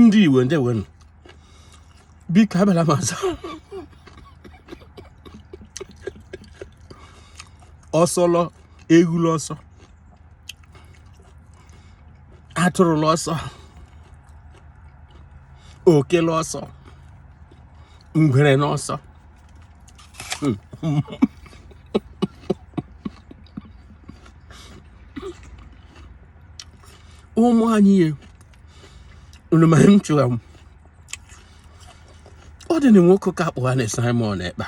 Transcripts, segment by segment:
ndị Igbo ndewonu biko abịala m ọzọ ọsọlọ eghu la ọsọ atụrụ la ọsọ oke la ọsọ ngwere n'ọsọ ụmụ anyị ee unu ma m chọrọ ịma ụdị nwoke ka a kpọgha na Simon Ekpa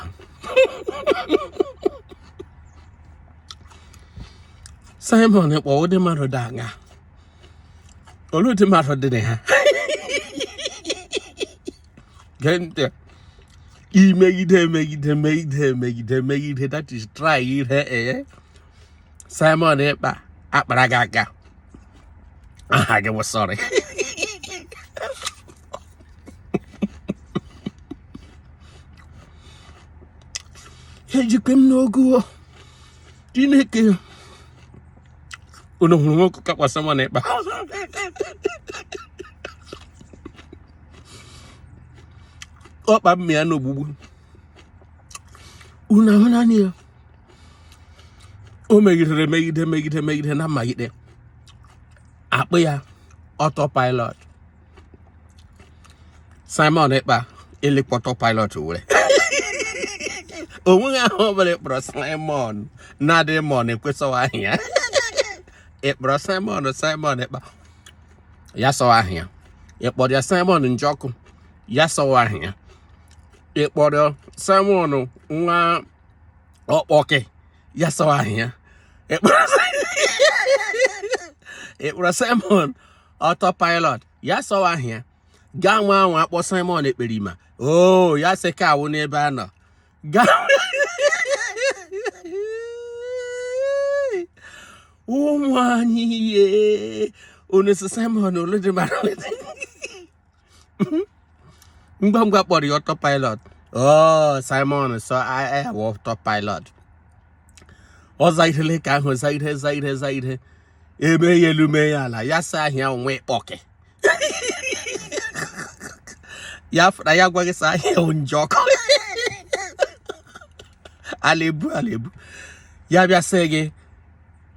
Simon Ekpa ụdị mmadụ dị aṅa olee ụdị mmadụ dị na ha gee ntị imegide emegide megide emegide megide that is try ihe ee Simon Ekpa akpara gị aka aha gị wụ sorry ejikwa m n'ogu Chineke unu hụrụ nwoke ka a kpọ Simon Ekpa ọkpa mmịa n'ogbugbu unu ahụnanụ ya o megidere megide megide megide na-emegide akpọọ ya autopilot Simon Ekpa e lekwa autopilot were o nweghị aha ọbụla ị kpọrọ Simon na-adịghị mma o kwe sị ọ wụ aha ya ị kpọrọ Simon Simon Ekpa ya sị ọ wụ aha ya ị kpọrọ ya Simon Njọkụ ya sị ọ wụ aha ya ị kpọrọ Simon nwa ọkpọkị ya sị ọ wụ aha ya ị kpọrọ Simon autopilot ya sị ọ wụ aha ya gaa nwaa anwa kpọọ Simon Ekperima o oh, ya sị ka a nwụọ n'ebe a nọ gaa ụmụ anyị ee onye sị Simon olee ụdị mmadụ ngwa ngwa kpọrọ ya autopilot oh Simon sị ọ wụ autopilot ọ zairele ka ahụ zaire zaire zaire e mee ya elu mee ya ala ya sị aha ya wụ ọkpọkị ya fụra ya gwa gị sị aha ya Njọkụ ala ebu ala ebu ya bịa sị gị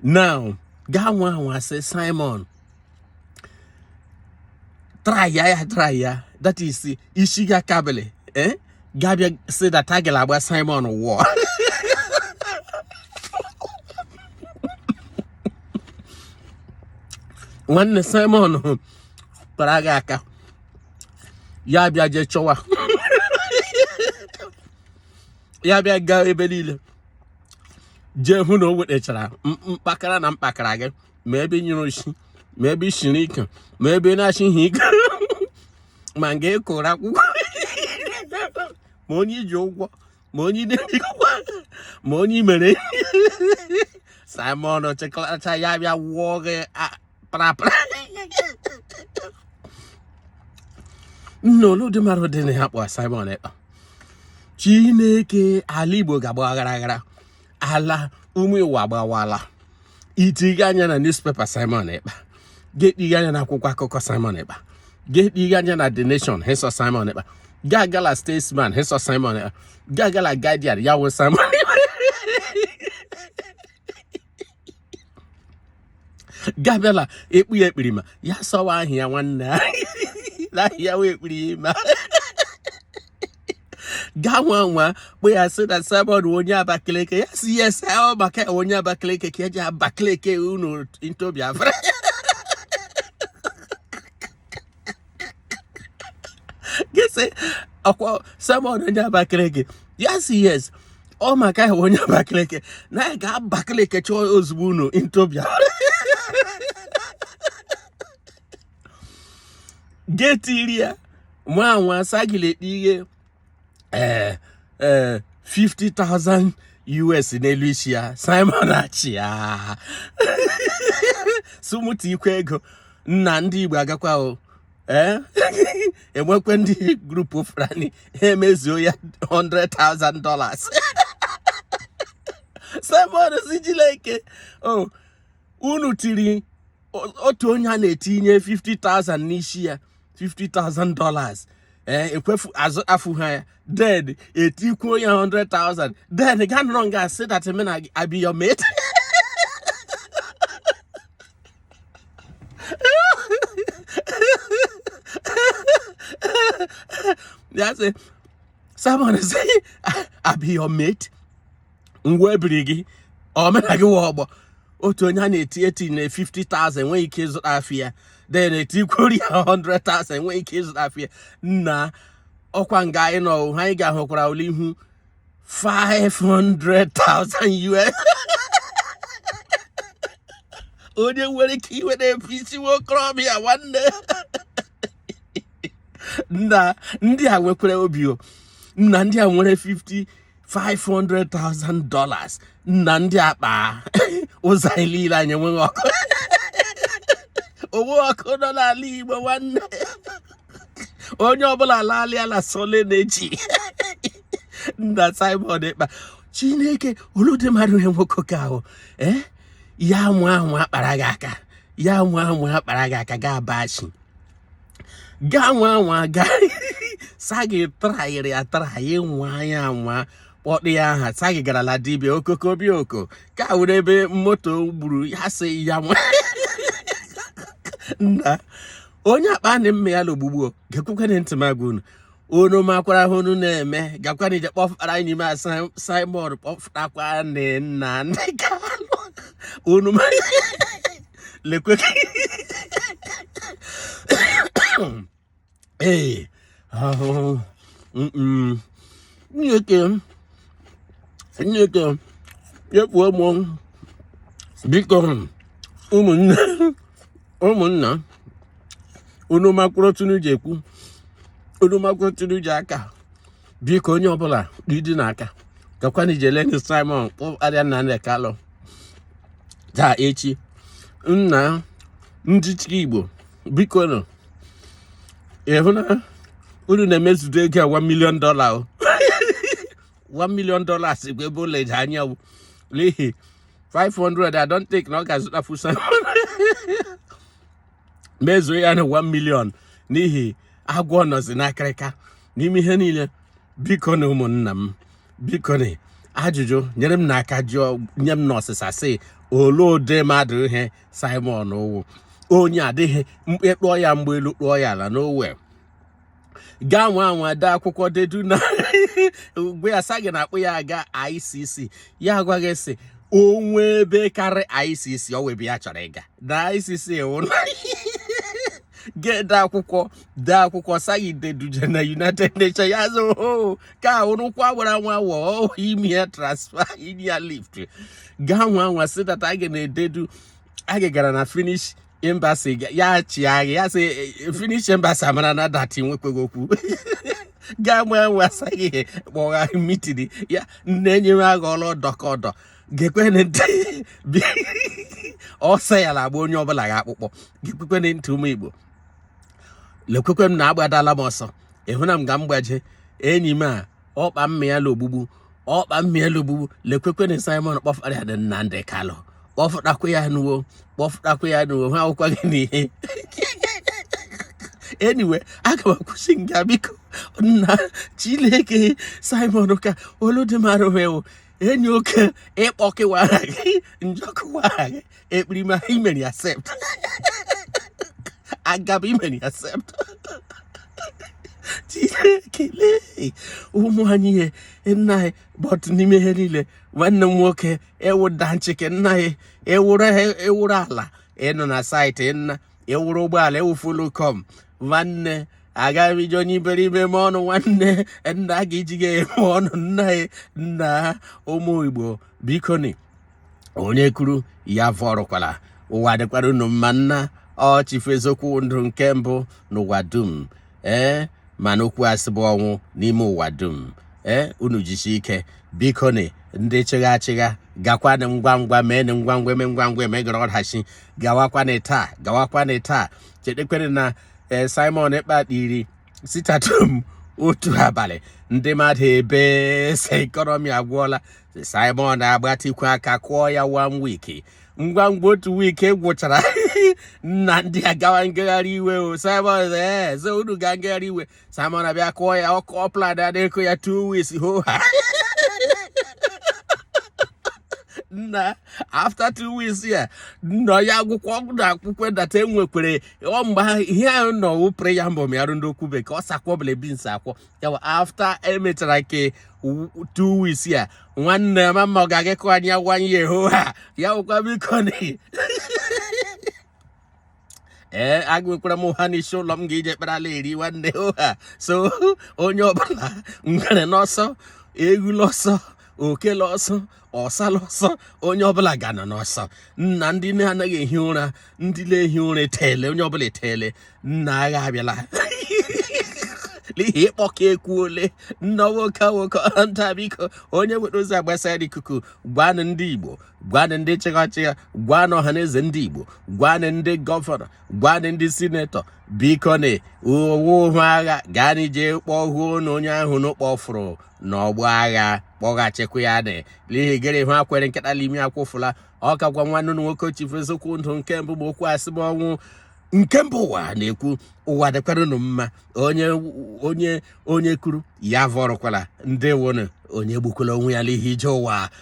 now gaa nwaa anwa sị Simon try ya ya try ya that is isi ga akabele eh gabịa say that agala agba Simon wọ nwanne Simon kpara gị aka ya bịa jee chọwa ya bịa gaa ebe niile jee hụ na o wetachara mkpakara na mkpakara gị ma ebe i jere oshi ma ebe ị siri ike ma ebe ị na-achị ihe ike ma nga ị gụrụ akwụkwọ ma onye i ji ụgwọ ma onye ideji ụgwọ ma onye i mere Simon chịkọtacha ya bịa wụọ gị parapara nna oludị mara dị na ya kpọ Simon Ekpa Chineke ala Igbo ga-agba aghara aghara ala ụmụ Igbo agbawala i tiga anya na newspaper Simon Ekpa ga etiga anya na akwụkwọ akụkọ Simon Ekpa ga etiga anya na The Nation hesọ Simon Ekpa ga-agala Statesman hesọ Simon Ekpa ga-agala Guardian ya wụ Simon Ekpa gabịala ekpu ya ekpirima ya sọwa ahịa nwanne ya wee ekpirima gaa nwa nwa kpụ ya sị na Simon onye Abakaliki ya sị yes ọ maka onye Abakaliki ka e ji Abakaliki unu into Biafra gị sị ọkwa Simon onye Abakaliki ya sị yes ọ maka ya onye Abakaliki na ya ga Abakaliki chọọ ozugbo unu into Biafra getiri ya nwa anwa sagilekpe ihe ee eh, ee eh, 50,000 US n'elu isi ya Simon achịa sị unu tikwe ego nna ndị Igbo agakwa o ee enwekwe ndị group Fulani emezuo ya 100,000 dollars Simon sị Chineke o oh, unu tiri otu onye a na-etinye 50,000 n'isi ya 50,000 dollars ee eh, ekwefu azụ afụ ha ya then etikwuo ya 100,000 then ga nọrọ nga asị that me I be your mate ya sị Simon say I be your mate ngwa ebiri gị omena gị wa ọgbọ otu onye a na-eti eti na 50,000 enweghị ike ịzụtafụ ya then etikwuru ya 100,000 enweghị ike ịzụtafụ ya nna ọkwa nga anyị nọ ha anyị ga-ahụkwara ụlọ ihu 500,000 US onye nwere ike iwe na-ebu isi nwa okorobịa nwanne nna ndị a nwekwara obi o nna ndị a nwere 50 500,000 dollars nna ndị akpa ụzọ anyị niile anyị enweghị ọkụ o nweghị ọkụ nọ n'ala Igbo nwanne onye ọbụla alaala na solar na-eji nna Simon Ekpa Chineke ole ụdị mmadụ ihe nwoke ka ahụ ee eh? ya nwa ahụ akpara gị aka ya nwa ahụ akpara gị aka ga abachi gaa nwa nwa gaa sa gị trayịrị atrayị nwa ya nwa kpọkpọ ya aha sa gị gara la dibịa okokobioko ka were ebe moto gburu ya sị ya nwa nna onye akpa na mme ya la ogbugbu o gekwukwana ntị m agwa unu unu makwara ihe unu na-eme gakwana ije kpọfụtara anyị n'ime a Simon kpọfụtakwanụ Nnamdi Kalu unu lekwe ee ahụhụ nyoke nyoke yepụ ụmụ biko ụmụnne ụmụnna unu makwara otu unu ji ekwu unu makwara otu unu ji aka biko onye ọbụla ọ dị n'aka gakwana ijeleni Simon kpọfụtara Nnamdi Kalụ taa echi nna ndị chi igbo biko nụ ịhụ na unu na-emezudo ego a 1 million dollar o 1 million dollars bụ ebe ụlọ eji anya n'ihi 500 I don't think na ọ ga-azụtafụ Simon mezuo ya na 1 million n'ihi agwọ nọzi n'akịrịka n'ime ihe niile bikonụ ụmụnna m bikonụ ajụjụ nyere m nụ aka jụọ nye m nụ ọsịsa sị ole ụdị mmadụ ihe Simon wụ onye adịghị mkpe kpụọ ya mgbe elu kpụọ ya ala n'owe gaa nwa anwa dee akwụkwọ dedu na mgbe ya sa gị na-akpụ ya aga ICC ya agwa gị sị o nwe ebe karị ICC o nwe ebe ya chọrọ ịga na ICC ewu na ga-ede akwụkwọ dee akwụkwọ sa gị deduje na united nations ya zo oh, ka ụrụkwa gwara nwa wọ oh, ime ya transfer ime ya lift gaa nwa nwa sị that a ga na-ededu a ga gara na Finnish embassy ya chịa gị ya sị eh, Finnish embassy amara na dati nwekweghị okwu gaa nwee nwe asaghị ihe kpọgha meeting ya na-enye m agha ọrụ ọdọ ka ọdọ gekwene ntị ọsọ ya na agba onye ọbụla ga-akpụkpọ gekwekwene ntị ụmụ Igbo lekwekwe m na agbadala m ọsọ ịhụ na m ga m gbaje enyi m a ọkpa mmịala ogbugbu ọkpa mmịala ogbugbu lekwekwenụ Simon kpọfụtara ya Nnamdi Kanu kpọfụtakwa ya nụ o kpọfụtakwa ya nụ o ha akwụkwọ gị n'ihe anyway aga m akwụsị nga biko nna Chineke Simon ka olu dị mara enyi oke ịkpọkịwara gị njọkụwara gị ekperima imeri accept agaba imeri accept ekele ụmụ anyị ihe nna anyị but n'ime ihe niile nwanne m nwoke ewụda ncheke nna anyị ewụrụ ala ịnọ na site nna ewụrụ ụgbọala ewufulu kọm nwanne agaghị m iji onye iberibe eme ọnụ nwanne nna ga iji gị eme ọnụ nna nna ụmụ Igbo bikoni onye kuru ya vurukwala ụwa dịkwara unu mma nna ọchịfụ eziokwu ndụ nke mbụ n'ụwa dum ee mana okwu asị bụ ọnwụ n'ime ụwa dum ee unu jisi ike bikoni ndị chịgha achịgha gakwanị ngwa ngwa mee na ngwa ngwa eme ngwa ngwa emeghara ọdachi gawakwanị taa gawakwanị taa chetekwere na ee eh, Simon Ekpa tiri sit-at-home otu abalị ndị mmadụ ebee sị economy agwụọla Simon agbatikwu aka kụọ ya one week ngwa ngwa otu week gwụchara nna ndị agawa ngagharị iwe o Simon ee so unu ga ngagharị iwe Simon abịa kụọ ya ọkụ ọplad adịkụ ya two weeks ho ha nna after two weeks ya nna ya akwụkwọ na akwụkwọ data enwekwere ọ mgbe ha ihe ahụ nọ wụ preamble mịarụ ndị okwu bekee ọ sakwọ bụla bins akwọ yawa after emechara ke two weeks ya nwanne mama ọ ga-aga kụ anya one year ho ha ya wụkwa bikoni ee eh, agụkwara m ha n'isi ụlọ m ga-eji ekpere ala eri nwanne ha so onye ọbụla ngwere n'ọsọ ewu l'ọsọ oke l'ọsọ ọsa l'ọsọ onye ọbụla ga-anọ n'ọsọ nna ndị na-anaghị ehi ụra ndị na-ehi ụra etele onye ọbụla etele nna agha abịala n'ihi ịkpọka ekwuole nna nwoke nwoke nta biko onye nwere ozi agbasara ikuku gwanụ ndị Igbo gwanụ ndị chịgha achịgha gwanụ Ọhaneze Ndị Igbo gwanụ ndị governor gwanụ ndị sinetọ biko na ọ wụ ohu agha gaa n'ije kpọọ huo na onye ahụ n'ụkpọfụrụ n'ọgbọ agha kpọghachikwa ya n'ihi gịrị ha kwere nkịta l'imi akwụfụla ọ ka gwa nwanne nwoke chifu eziokwu ndụ nke mbụ bụ okwu asị bụ ọnwụ nke mbụ ụwa na-ekwu ụwa dịkwaranụ mma onye kuru ya vọrọkwala ndị wụnụ onye gbukwala onwe ya n'ihi ije ụwa